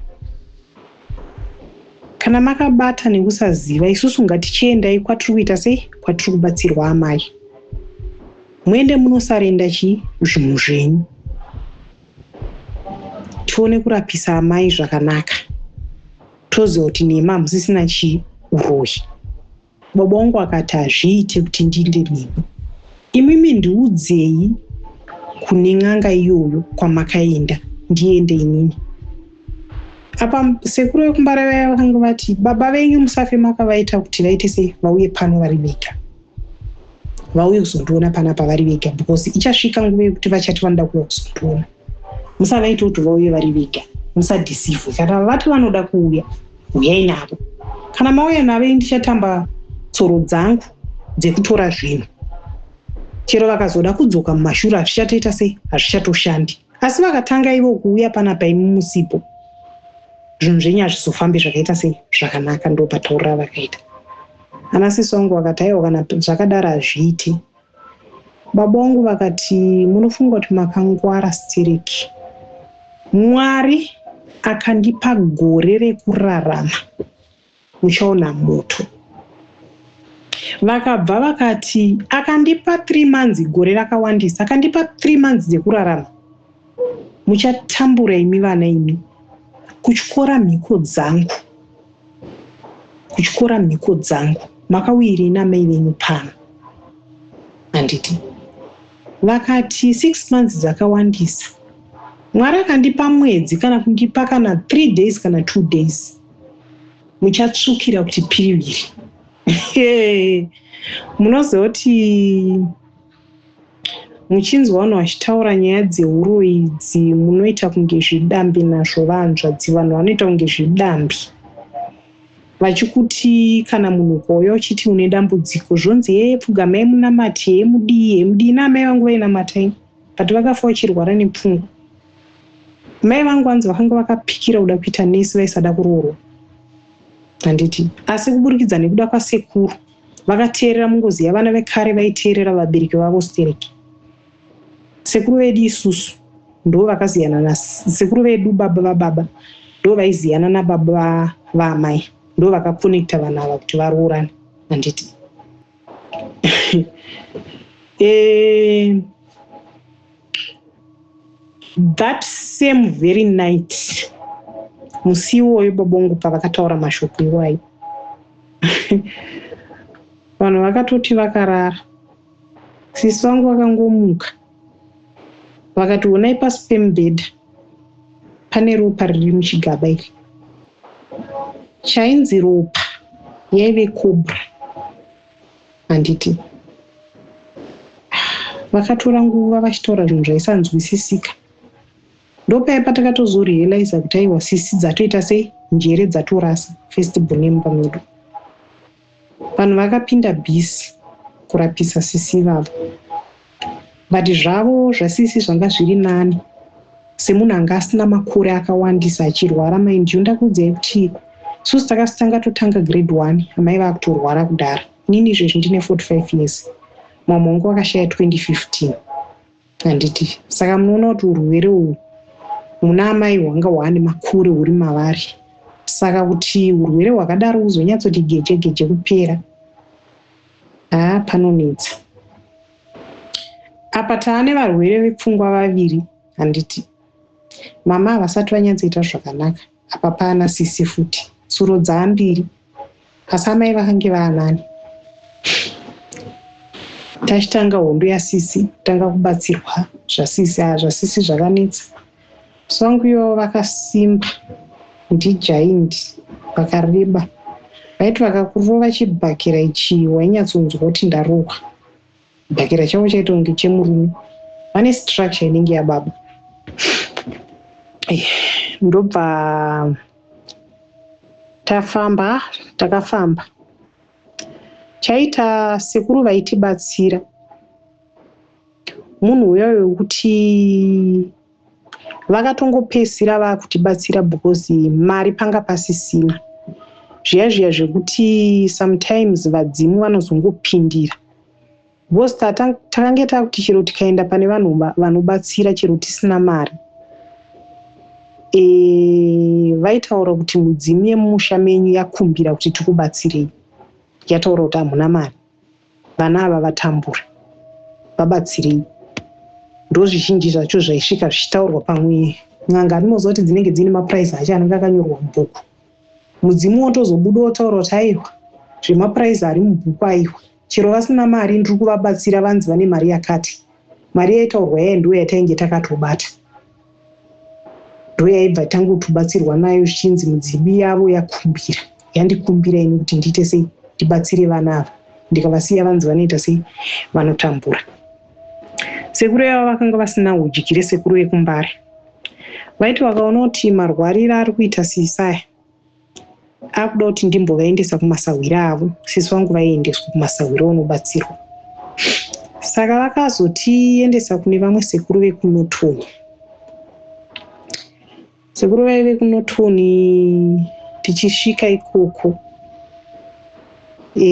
kana makabata nekusaziva isusu ngatichiendai kwatiri kuita sei kwatiri kubatsirwa amai muende munosarenda chii zvinhu zvenyu tione kurapisa amai zvakanaka toziva kuti nemi hamusisina chii uroyi Bobo wangu akati hazviite kuti ndinde nemi. Imimi ndiudzei kune n'anga iyoyo kwamakaenda ndiende inini. Apa sekuru vekumbare vaya vakanga vati baba venyu musafe makavaita kuti vaite sei vauye pano vari vega. Vauye kuzondiona panapa vari vega because ichasvika nguva yekuti vachati vanoda kuuya kuzondiona. musavaite kuti vauye vari vega musadhisivhe kana vati vanoda kuuya huyai navo kana mauya navo i ndichatamba tsoro dzangu dzekutora zvinhu chero vakazoda kudzoka mumashure hazvichatoita sei hazvichatoshandi asi vakatanga ivo kuuya pana paimi musipo zvinhu zvenyu hazvizofambi zvakaita sei zvakanaka ndo pataurira vakaita ana sisi wangu vakati aiwa kana zvakadaro hazviiti Baba wangu vakati munofunga kuti makangwara stereki. Mwari akandipa gore rekurarama muchaona moto. Vakabva vakati akandipa three months gore rakawandisa akandipa three months dzekurarama muchatambura imi vana imi kutyora mhiko dzangu. kutyora mhiko dzangu makauyirei namai venyu pano handiti vakati six months dzakawandisa mwari akandipa mwedzi kana kundipa kana three days kana two days muchatsvukira kuti piriviri munozoti Muchinzwa vanhu vachitaura nyaya dzehuroyi idzi munoita kunge zvidambi nazvo vahanzvadzi vanhu vanoita kunge zvidambi vachikuti kana munhu ukauya uchiti une dambudziko zvonzi hee pfugamai munamati hee mudii hee mudii naamai vangu vainamatai but vakafa vachirwara nepfungwa mai vangu vanzi vakanga vakapikira kuda kuita nesi vaisada kuroorwa handiti asi kuburikidza nekuda kwasekuru vakateerera mungozi yavana vekare vaiteerera vabereki vavo stereki sekuru vedu isusu ndo vakaziyana na sekuru vedu baba vababa ndo vaiziyana nababa vaamai ndo vakakonekta vanhu ava kuti varoorane handiti e... that same very night musi iwoyo babongu pavakataura mashoko iwayo vanhu vakatoti vakarara sisi vangu vakangomuka vakati onai pasi pemubhedha pane ropa riri muchigaba iri chainzi ropa yaive cobra handiti vakatora nguva vachitaura zvinhu zvaisanzwisisika ndopaya patakatozorealiza kuti aiwa sisi dzatoita sei njere dzatorasa festival nemba medu vanhu vakapinda bhisi kurapisa sisi ivavo but zvavo zvasisi zvanga zviri nani semunhu anga asina makore akawandisa achirwara maindiu ndakuudzai kuti susi takasitanga totanga grade one amai vakutorwara kudhara nini izvezvi ndine 45 years mamwe wangu wakashaya 2015 handiti saka munoona kuti urwere uhwu muna amai hwanga hwaane makure huri mavari saka kuti urwere hwakadaro huzonyatsoti geje geje kupera Haa ah, panonetsa. Apa tava nevarwere vepfungwa vaviri handiti. Mama havasati vanyatsoita zvakanaka. Apa paana sisi futi. Tsuro dzaambiri. Asi amai vakange vaanani. Tachitanga hondo yasisi, tanga kubatsirwa zvasisi, ah, zvasisi zvakanetsa. Song yo vakasimba ndi giant vakareba vaiti vakakurova chibhakera ichi wainyatsonzwa kuti ndarohwa. Chibhakera chavo chaita kunge chemurume vane structure inenge yababa eh, ndobva tafamba takafamba chaita sekuru vaitibatsira munhu uya wekuti vakatongopedzisira vakutibatsira because mari panga pasisina zviya zviya zvekuti sometimes vadzimu vanozongopindira because takange takuti chero tikaenda pane vanhu vanobatsira chero tisina mari e, vaitaura kuti mudzimu yemumusha menyu yakumbira kuti tikubatsirei yataura kuti hamuna mari vana ava vatambure vabatsirei ndozvizhinji zvacho zvaisvika zvichitaurwa pamwe n'anga animoziva kuti dzinenge dziine mapuraizi acho anenge akanyorwa mubhuku mudzimu wotozobuda wotaura kuti aiwa zvemapuraizi ari mubhuku aiwa chero vasina mari ndiri kuvabatsira vanzi vane mari yakati mari yaitaurwa yaye ndiwo yatainge takatobata ndoyaibva tangotobatsirwa nayo zvichinzi mudzimu yavo yakumbira yandikumbira ini kuti ndiite sei ndibatsire vana ava ndikavasiya vanzi vanoita sei vanotambura sekuru yavo vakanga vasina udyire sekuru vekumbare vaiti vakaona kuti marwarira ari kuita siisaya akuda kuti ndimbovaendesa kumasahwira avo sisi vangu vaiendeswa kumasahwira unobatsirwa saka vakazotiendesa kune vamwe sekuru vekunotuni sekuru vaive kunotuni tichisvika ikoko e,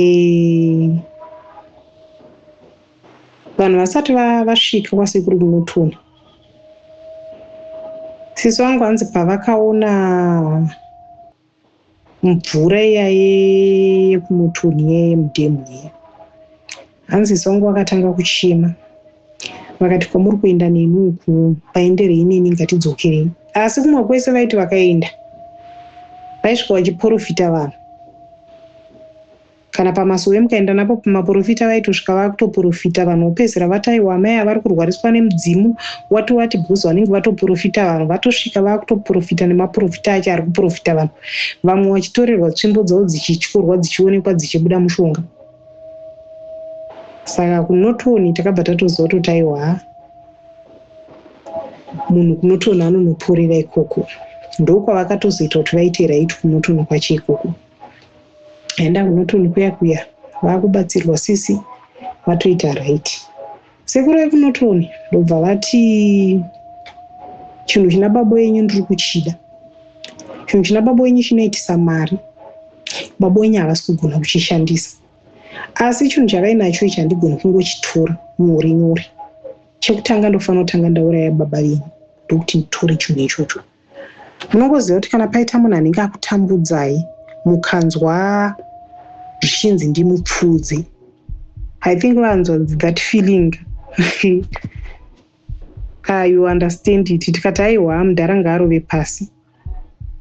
vanhu vasati vasvika kwasekuru munotuna sisi vangu hanzi pavakaona mvura iya yekumutuni yemudhemu iya hanzi sisi vangu vakatanga kuchema vakati kwamuri kuenda neni uku paenderei neni ngatidzokerei asi kumwe kwese vaiti vakaenda vaisvika vachiporofita vanhu kana pamasowe mukaenda napo pamaporofita vaitosvika vakutoporofita vanhu vopedzera vataiwa amai avari kurwariswa nemudzimu wati wati because vanenge vatoporofita vanhu vatosvika vakutoporofita nemaporofita acho ari kuporofita vanhu vamwe vachitorerwa tsvimbo dzavo dzichityorwa dzichionekwa dzichibuda mushonga saka kunotoni takabva tatoziva totaiwa munhu kunotoni anonoporera ikoko ndokwavakatozoita kuti vaite right kunotoni kwacho ikoko enda kunotoni kuya kuya vakubatsirwa sisi vatoita right sekuru vekunotoni ndobva vati chinhu china babo yenyu ndiri kuchida chinhu china babo yenyu chinoitisa mari babo wenyu havasi kugona kuchishandisa asi chinhu chavainacho ichi handigoni kungochitora nyore nyore chekutanga ndofanira kutanga ndauraya baba venyu ndokuti nditore chinhu ichocho Munongoziva kuti kana paita munhu anenge akutambudzai mukanzwa zvichinzi ndimupfuudze i think vanzwa that feeling ka ah, you understand it tikati aiwa mudhara ngaarove pasi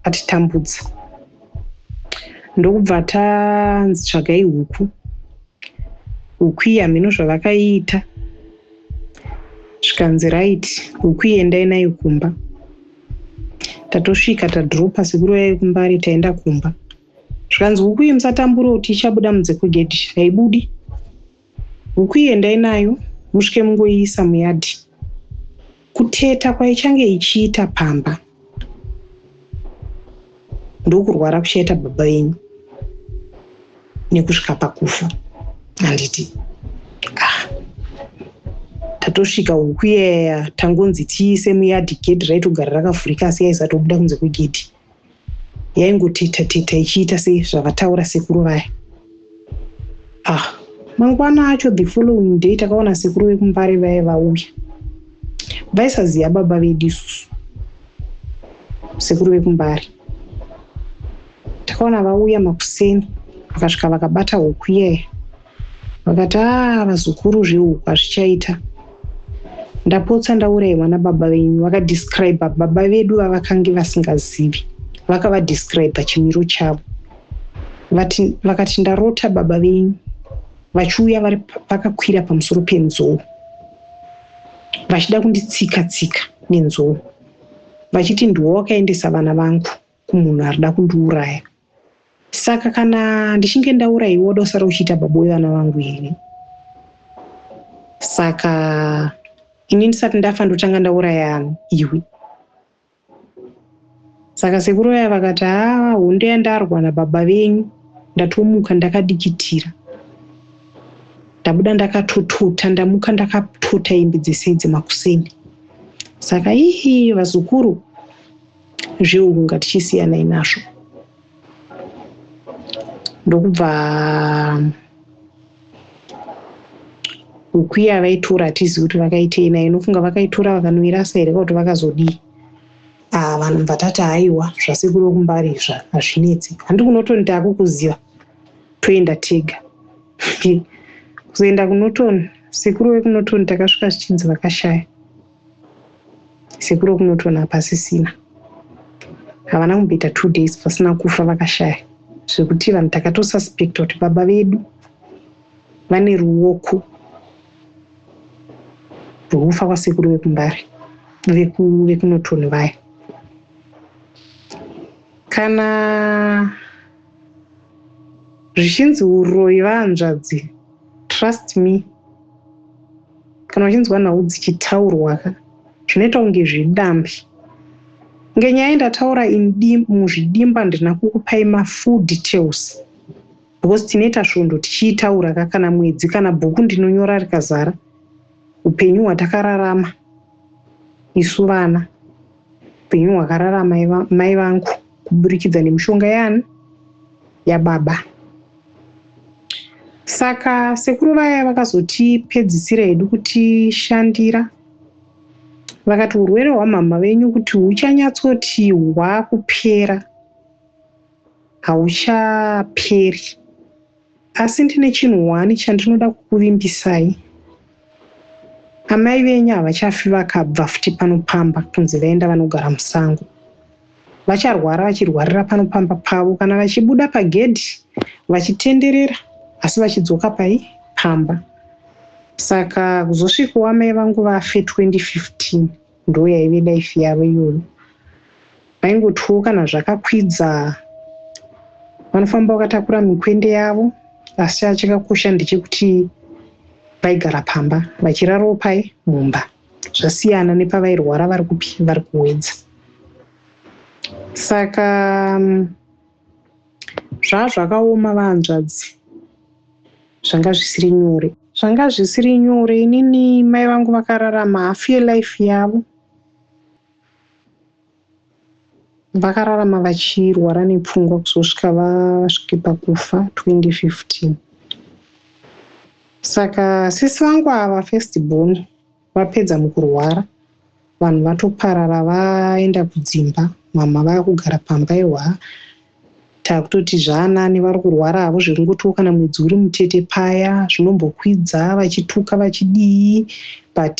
atitambudza ndokubva tanzi tsvagai huku huku iya hameno zvavakaita zvikanzi right huku iendai nayo kumba tatosvika tadropa sekuru yayo kumbari taenda kumba zvikanzi huku iyi musatambura kuti ichabuda munze kwegedhi haibudi huku iyi endai nayo musvike mungoiisa muyadhi kuteta kwaichange ichiita pamba ndokurwara kuchaita baba venyu nekusvika pakufa handiti ah. tatosvika uku yeya tangonzi tiise muyadhi gedhi raitogara rakavhurika asi yaisatobuda kunze kwegedhi yaingoteta teta ichiita sezvavataura sekuru vaya ah mangwana acho the following day takaona sekuru vekumbare vaye vauya vaisaziva baba vedu isusu sekuru vekumbare takaona vauya makuseni vakasvika vakabata huku iyaya vakati aa ah, vazukuru zvehuku hazvichaita ndapotsa ndauraiwa nababa venyu vakadescribe baba vedu vavakange vasingazivi vakavadescribe chimiro chavo vati vakati ndarota baba venyu vachiuya vakakwira pamusoro penzou vachida kunditsika tsika nenzou vachiti ndiwo wakaendesa vana vangu kumunhu ari da kundiuraya saka kana ndichinge ndauraiwa woda usara uchiita baba wevana vangu here saka ini ndisati ndafa ndotanga ndauraya iwe saka sekuru vaya vakati haa ah, hunde yandarwa nababa venyu ndatomuka ndakadikitira ndabuda ndakatotota ndamuka ndakatota imbi dzese idzi makuseni saka ihi vazukuru zveuku ngatichisiyana inazvo ndokubva huku iya vaitora hatizivi kuti vakaitei nayo inofunga vakaitora vakanoirasa here kuti vakazodii ah, vanhu bva tati haiwa zvasekuru vekumbari izva hazvinetsi handi kunotoni taakukuziva toenda tega kuzoenda kunotoni sekuru vekunotoni takasvika zvichinzi vakashaya sekuru kunotona pasisina havana kumboita two days pasina kufa vakashaya zvekuti vanhu takatosuspecta kuti baba vedu vane ruoko rwekufa kwasekuru vekumbare vekunotoni vaya kana zvichinzi uroyi vaanzvadzi trust me kana uchinzwa nhau dzichitaurwa ka zvinoita kunge zvidambi nge nyaya ndataura muzvidimba ndina kukupai mafull details because tinoita svondo tichiitaura ka kana mwedzi kana bhuku ndinonyora rikazara upenyu hwatakararama isu vana upenyu hwakararama mai vangu kuburikidza nemishonga yaani yababa saka sekuru vaya vakazotipedzisira hedu kutishandira vakati urwere hwamhamha venyu kuti huchanyatsoti hwakupera hauchaperi Asi ndine chinhu one chandinoda kukuvimbisai. Amai venyu havachafi vakabva futi pano pamba kunzi vaenda vanogara musango. Vacharwara vachirwarira pano pamba pavo kana vachibuda pagedhi vachitenderera asi vachidzoka pai pamba. Saka kuzosvikawo amai vangu vafe 2015. ndoo yaive life yavo iyoyo vaingotyiwo kana zvakakwidza vanofamba vakatakura mikwende yavo asi chachakakosha ndechekuti vaigara pamba vachirarawo pai mumba zvasiyana nepavairwara vari kupi vari kuwedza saka mm, zvaa zvakaoma vahanzvadzi zvanga zvisiri nyore zvanga zvisiri nyore inini mai vangu vakararama half yelife yavo vakararama vachirwara nepfungwa kuzosvika vasvike pakufa 2015 saka sisi vangu ava first born Vapedza mukurwara vanhu vatoparara vaenda kudzimba mhamha vava kugara pamba ehwaa takutoti zvaanani vari kurwara havo zvekungotiwo kana mwedzi uri mutete paya zvinombokwidza vachituka vachidii but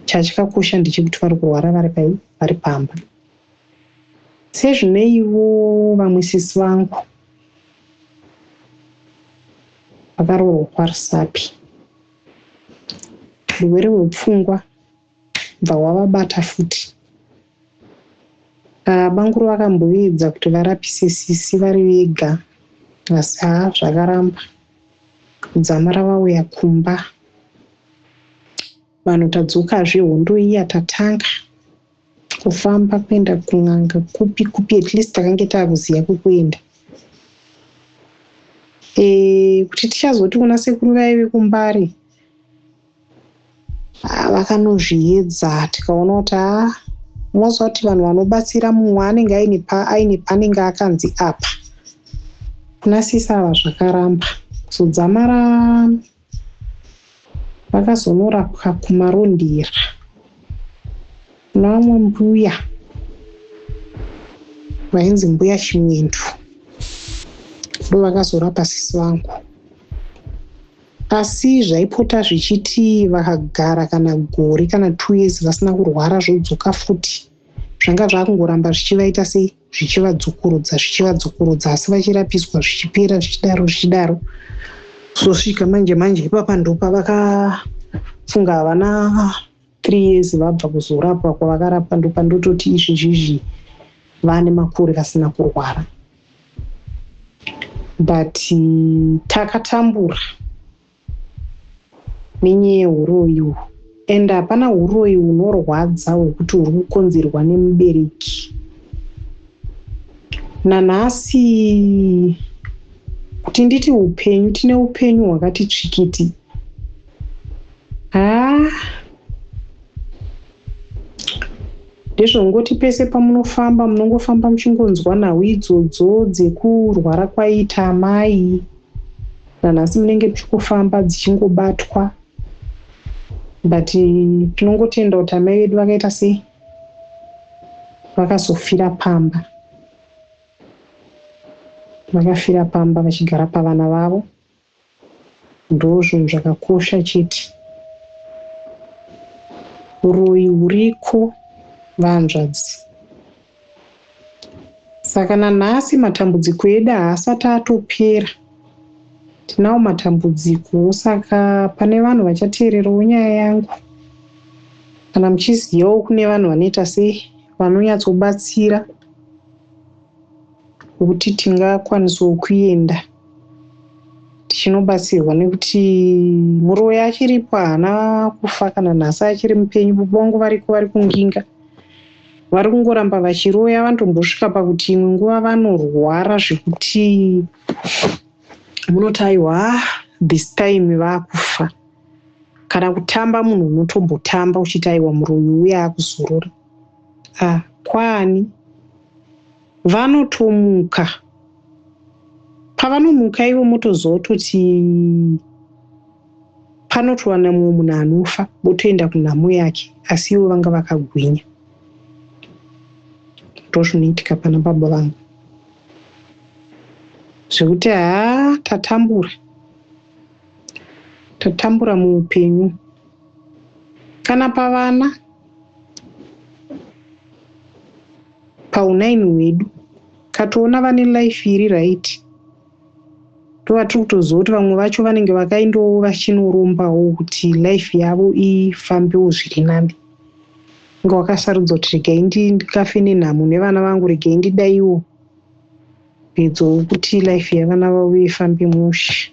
chachikakosha ndechekuti vari kurwara vari pai vari pamba sezvineivo vamwe sisi vangu vakaroorwa kwarusapi Hurwere hwepfungwa hwobva hwavabata futi. Bamkuru vakamboedza kuti varapise sisi vari vega asi haa zvakaramba. Kudzamara vauya kumba vanhu tadzokazve hondo iya tatanga. kufamba kuenda kun'anga kupi kupi at least takange taakuziva kwekuenda e, kuti tichazoti kuna sekuru vaye vekumbare ah, vakanozviedza tikaona kuti a ah, moziva kuti vanhu vanobatsira mumwe anenge aine paanenge akanzi apa kuna sisava zvakaramba kuzodzamara vakazonorapwa kumarondera kuna vamwe mbuya vainzi mbuya chimwendo ndo vakazorapa sisi vangu asi zvaipota zvichiti vakagara kana gore kana two years vasina kurwara zvodzoka futi zvanga zvakungoramba zvichivaita sei zvichivadzokorodza zvichivadzokorodza asi vachirapiswa zvichipera zvichidaro zvichidaro zosvika manje manje ipapa ndopa vakafunga havana three years vabva kuzorapwa kwavakarapwa ndopa ndototi izvi zvizvi vane makore vasina kurwara but takatambura nenyaya yehuroyi uhu and hapana huroyi hunorwadza hwekuti huri kukonzerwa nemubereki nanhasi kuti nditi upenyu tine upenyu hwakati tsvikiti haa ah. ndizvo ngoti pese pamunofamba munongofamba muchingonzwa nhau idzodzo dzekurwara kwaiita amai nanhasi munenge muchikufamba dzichingobatwa but tinongotenda kuti amai vedu vakaita sei vakazofira pamba vakafira pamba vachigara pavana vavo Ndozvinhu zvakakosha chete. Huroyi huriko vahanzvadzi. Saka nanhasi matambudziko edu haasati atopera. Tinawo matambudziko saka pane vanhu vachateererawo nyaya yangu. Kana muchizivawo kune vanhu vanoita sei vanonyatsobatsira. hwekuti tingakwanisawo kuenda tichinobatsirwa nekuti muroyi achiripo haana kufa kana nhasi achiri mupenyu bubongo variko vari kunginga vari kungoramba vachiroya vanotombosvika pakuti imwe nguva vanorwara zvekuti munoti aiwa ah, this time vakufa kana kutamba munhu unotombotamba uchiti aiwa muroyi uye akuzorora Ah, kwaani? Vanotomuka. Pavanomuka ivo motoziva kuti panotowana mumwe munhu anofa votoenda kunhamo yake asi ivo vanga vakagwinya ndozvinoitika pana baba vangu zvekuti haa tatambura tatambura muupenyu kana pavana paunine hwedu katoona vane life iri right tova tiri kutoziva kuti vamwe vacho vanenge vakaindowo vachinorombawo kuti life yavo ifambewo zviri nani inge wakasarudza kuti regai ndikafe nenhamo nevana vangu regai ndidaiwo pedzowo kuti life yevana vavo ifambe mushe